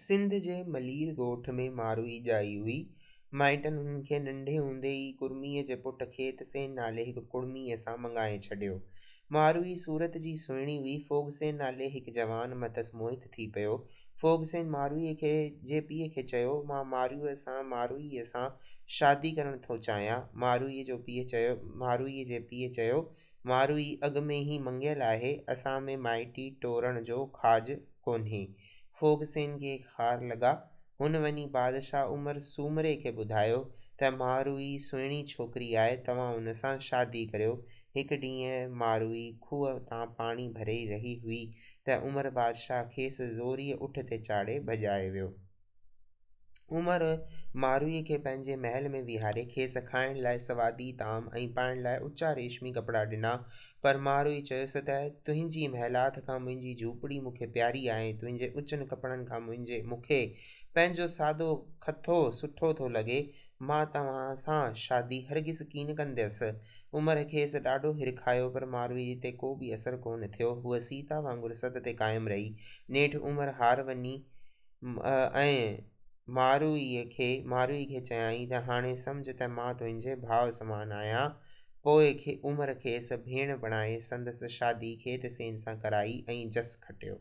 سنڌ جي ملير ڳوٺ ۾ ماروئي ڄائي هئي. مائٽن هن کي ننڍي هوندي ئي ڪڙميء جي پٽ کيتسين نالي هڪ ڪڙميء سان مڱائي ڇڏيو. ماروئي صورت جي سهڻي هئي. ڦوڳسين نالي هڪ جوان مٿس موهت ٿي پيو. ڦوڳسين ماروئي کي جي پيء کي چيو، مان ماروئي سان ماروئيء سان شادي ڪرڻ ٿو چاهيان. ماروئي جو پيء چيو ماروئي جي پيء چيو، ماروئي اڳ ۾ ئي مڱيل آهي، اسان ۾ مائٽي ٽورڻ جو کاڄ ڪونهي. ڦوڳسين کي خار لڳا. هن وڃي بادشاهه عمر سومري کي ٻڌايو ته ماروئي سهڻي ڇوڪري آهي، توهان ان سان شادي ڪريو. هڪ ڏينهن ماروئي کوهه تان پاڻي ڀري رهي هئي ته عمر بادشاهه کيس زوريء اٺ تي چاڙهي ڀڄائي ويو. عمر مارويء کي پنهنجي محل ۾ ويهاري، کيس کائڻ لاء سوادي طعام ۽ پائڻ لاء اچا ريشمي ڪپڙا ڏنا، پر مارويء چيس ته، تنهنجي محلات کان منهنجي جهوپڙي مون کي پياري آهي، تنهنجي اچن ڪپڙن کان منهنجي مون کي پنهنجو سادو کٿو سٺو ٿو لڳي، مان توهان سان شادي هرگز ڪين ڪنديس. عمر کيس ڏاڍو هرکايو، پر مارويء تي ڪو به اثر ڪونه ٿيو، هوء سيتا وانگر سڌ تي قائم رهي. نيٺ عمر هار وڃي. ۽ ماروئيء کي ماروئي کي چيائين ته هاڻي سمجهه ته مان تنهنجي ڀاء سمان آهيان. پوء عمر کيس ڀيڻ بڻائي سندس شادي کيت سين سان ڪرائي ۽ جس کٽيو.